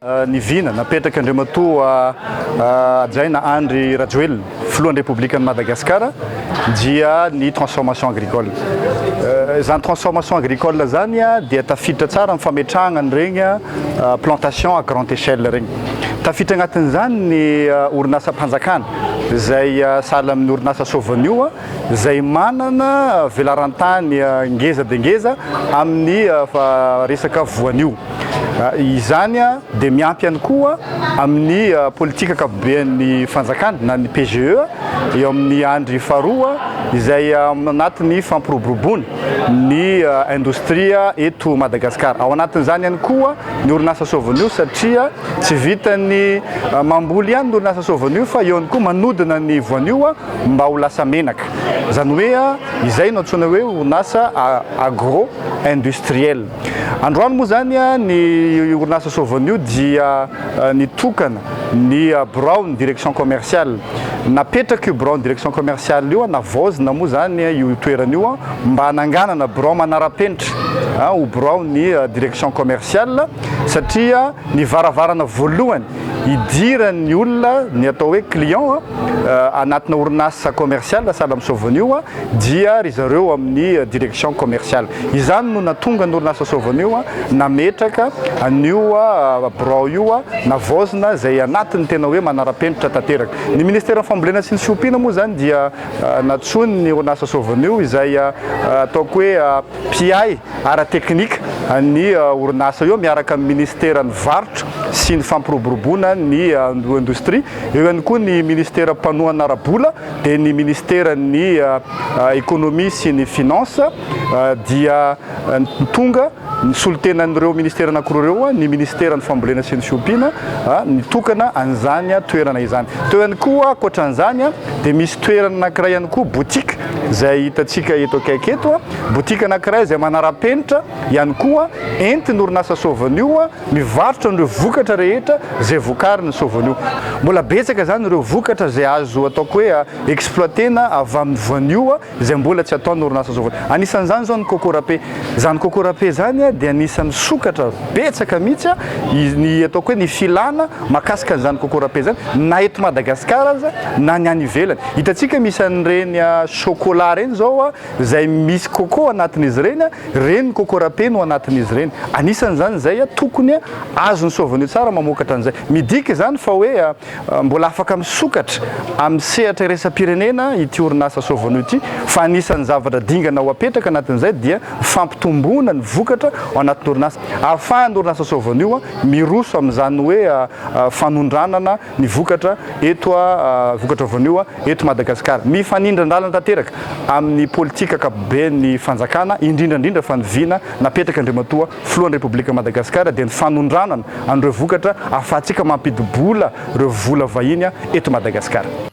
Ny vina napetrak' Andriamatoa Hajaina Andry Rajoelina, Filohan'ny Repoblikan'i Madagasikara dia ny transformation agricole. Izany transformation agricole izany dia tafiditra tsara amin'ny fametrahana an'ireny plantation à grande échelle ireny. Tafiditra anatin'izany ny orinasam-panjakana izay sahala amin'ny orinasa Sovenio, izay manana velaran-tany ngeza dia ngeza amin'ny resaka voanio. Izany dia miampy ihany koa amin'ny politika ankapoben'ny fanjakana na ny PGE eo amin'ny andry faharoa izay anatin'ny fampiroboroboana ny indostria eto Madagasikara. Ao anatin'izany ihany koa ny orinasa Sovenio satria Tsy vitan'ny mamboly ihany ny orinasa Soa Voanio fa eo ihany koa manodina ny voanio mba ho lasa menaka. Izany hoe izay no antsoina hoe orinasa agro industriel. Androany moa izany ny orinasa Soa Voanio dia nitokana ny biraon'ny direction commerciale. Napetraka io biraon'ny direction commerciale io, navaozina moa izany io toerana io mba hananganana birao manara-penitra ho biraon'ny direction commerciale. satria ny varavarana voalohany hidiran'ny olona ny atao hoe client anatina orinasa commercial sahala amin'i Sovony io dia ry zareo amin'ny direction commercial. Izany no nahatonga ny orinasa Sovony io nametraka an'io birao io navaozina izay anatiny tena hoe manara-penitra tanteraka. Ny ministeran'ny fambolena sy ny fiompiana moa izany dia nantsoiny ny orinasa Sovony io izay ataoko hoe mpiahy ara-teknika ny orinasa eo miaraka amin'ny minisiteran'ny Varotra sy ny fampiroboroboana ny indostria, eo ihany koa ny minisitera mpanohana ara-bola dia ny minisiteran'ny Ekonomia sy ny Finances dia nitonga nisolotenan'ireo minisitera anankiroa ireo ny minisiteran'ny Fambolena sy ny Fiompiana nitokana an'izany toerana izany. Teo ihany koa ankoatran'izany. Dia misy toerana anankiray ihany koa, boutique, izay hitantsika eto akaiky eto. Boutique anankiray izay manara-penitra ihany koa, entin'ny orinasa Sovenio mivarotra an'ireo vokatra rehetra izay vokarin'ny Sovenio. Mbola betsaka izany ireo vokatra izay azo ataoko hoe exploiter-na avy amin'ny voanio izay mbola tsy ataon'ny orinasa sokatra. Anisan'izany izao ny coco râpé. Izany coco râpé izany dia anisan'ny sokatra betsaka mihitsy ny ataoko hoe ny filàna mahakasika an'izany coco râpé izany na eto Madagasikara aza na ny any ivelany. Hitantsika misy an'ireny chocolat ireny izao izay misy coco ao anatin'izy ireny, ireny ny coco râpé no anatin'izy ireny. Anisan'izany izay tokony azon'ny Sovenio tsara mamokatra an'izay. Midika izany fa hoe. Mbola afaka misokatra amin'ny sehatra iraisam-pirenena ity orinasa Sovono ity fa anisan'ny zavatra dingana ho apetraka anatin'izay dia ny fampitomboana ny vokatra ao anatin'ny orinasa ahafahan'ny orinasa Sovono io miroso amin'izany hoe fanondranana ny vokatra eto vokatra Sovono io eto Madagasikara. Mifanindran-dalana tanteraka amin'ny politika ankapoben'ny fanjakana indrindra indrindra fa ny vina napetraka Andriamatoa Filohan'ny Repoblikan'i Madagasikara dia ny fanondranana an'ireo vokatra ahafahantsika mampidi-bola ireo vola vahiny eto Madagasikara.